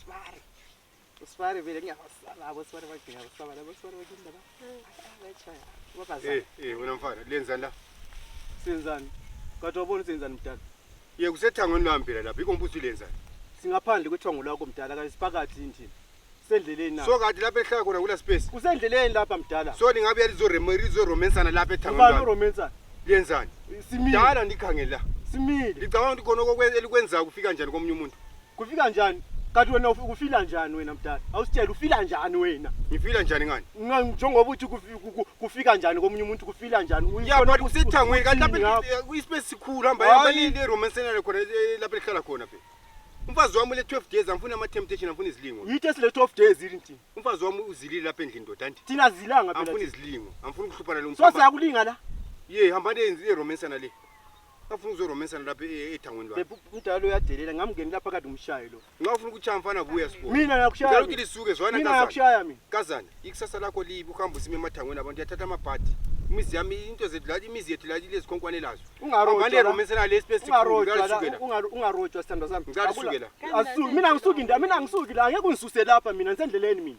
Sibari. Usibari vele ngiyabasaba abo sibari bagcina abasaba labo sibari bagcina laba. Ayachaya. Wakaza. Eh, eh wena mfana, lenzani la? Senzani? Kade wabona senzani mdala? Ye kusethangweni lami phela lapha, yikho ngibuza ulenzani. Singaphandle kwethongo lakho mdala kanye siphakathi endlini. Sendleleni na. So kade lapha ehlaya khona kula space. Kusendleleni lapha mdala. So ningabe yalizoremo lizoromensana lapha ethangweni Ubani lami. uromansa? Lenzani? Simile. Dala ndikhangela. Simile. Ngicabanga ukuthi khona okokwenza elikwenzayo kufika njani komunye umuntu. Kufika njani? Kanti wena uf- ufila njani wena mdala? Awusitshela ufila njani wena? Ngifila njani ngani? Nga- Njengoba uthi kufi- ku- ku- kufika njani komunye umuntu kufila njani? Uyibona Ngiyabona ukuthi kusethangweni kanti uthini lapha ngakho. ispace sikhulu hamba Hayi. hamba le le romance enalo khona eh, lapha lihlala khona phela. Umfazi wami le 12 days angifuni ama temptation angifuni izilingo. Yithi esile 12 days yini thina? Umfazi wami uzilile lapha endlini ndoda anti. Thina zilanga Angifuni phela. izilingo. Angifuni ukuhluphana lo So mfana. siyakulinga la. Ye hamba le le romance enale. afuna ukuzoromesana lapha e- ethangweni lwakhe Bebe umdala uyadelela ngamngenela phakathi umshaye lo. nxa ufuna ukuchaya mfana buya sibona Mina ngicela nakushaya. ukuthi mina. lisuke zwana Mina kazana nakushaya mina. kazana ikusasa lakho libi ukuhamba usima emathangweni abantu yathatha amabhadi imizi yami into zethu la imizi yethu la ile zikhonkwane lazo Ungarojwa la. abaneromesana le space Ungarojwa la, sikhulu ungar- ungarojwa sithandwa sami. Ngicela Akula- usuke la. Asuki mina angisuki nda mina angisuki la ngeke ungisuse lapha mina ngisendleleni mina.